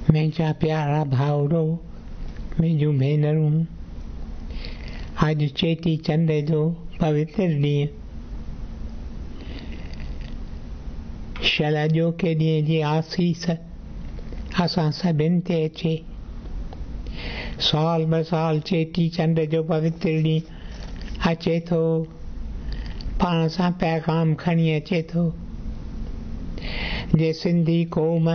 منهنجا پيارا ڀائڙو منهنجون ڀينرون اڄ چيٽي چنڊ جو پوتر ڏينهن شل اڄوڪي ڏينهن جي آسيس اسان سڀن تي اچي سال ٻه سال چيٽي چنڊ جو پوتر ڏينهن اچي ٿو پاڻ سان پيغام کڻي اچي ٿو جي سنڌي قوم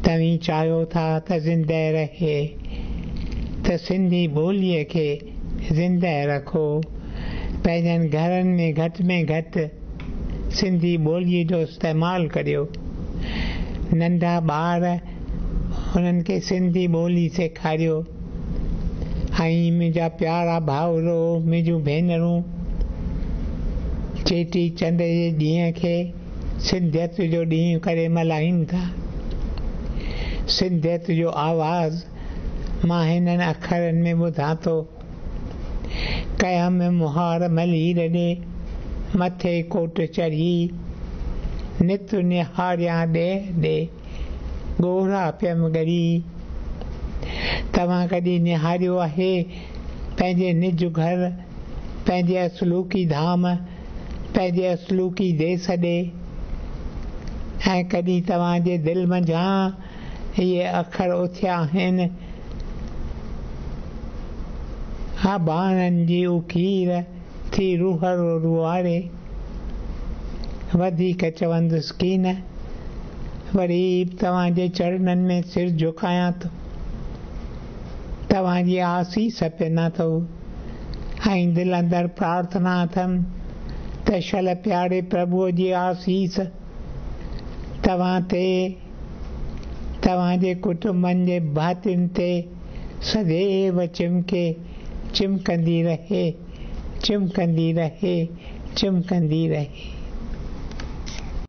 توهين چاهيو ٿا ته زنده رهي ته سنڌي ٻولي کي زنده رکو پنهنجن گهرن ۾ گهٽ ۾ گهٽ سنڌي ٻولي جو استعمال ڪريو ننڍا ٻار انهن کي سنڌي ٻولي سيکاريو ۽ منهنجا پيارا ڀائرو منهنجون ڀينرون چيٽي چنڊ جي ڏينهن کي سنڌيت جو ڏينهن ڪري ملهائين ٿا سنڌيت جو آواز مان هنن اکرن ۾ ٻڌان ٿو ڪئه ۾ مهار ملير ڏي مٿي ڪوٽ چڙهي نت نهاريان ڏيهه ڏي ڳوڙها پيم ڳري. توهان ڪڏهن نهاريو آهي پنهنجي نج گهر، پنهنجي اصلوڪي ڌام، پنهنجي اصلوڪي ديس ڏي؟ ۽ ڪڏهن توهان جي دل منجهان اهي اکر اٿيا آهن، اباڻن جي اڪير! ٿي روهڙو روهاڙي، وڌيڪ چوندس ڪي نه، وري به توهان جي چرنن ۾ سر جهڪايان ٿو، توهان جي آسيس پينا ٿو ۽ دل اندر پرارٿنا اٿم ته شل پياري پرڀوء جي آسيس توهان تي، توهان جي ڪٽنبن جي ڀاتين تي، سگهي و چمڪي، چمڪندي رهي، چمڪندي رهي، چمڪندي رهي.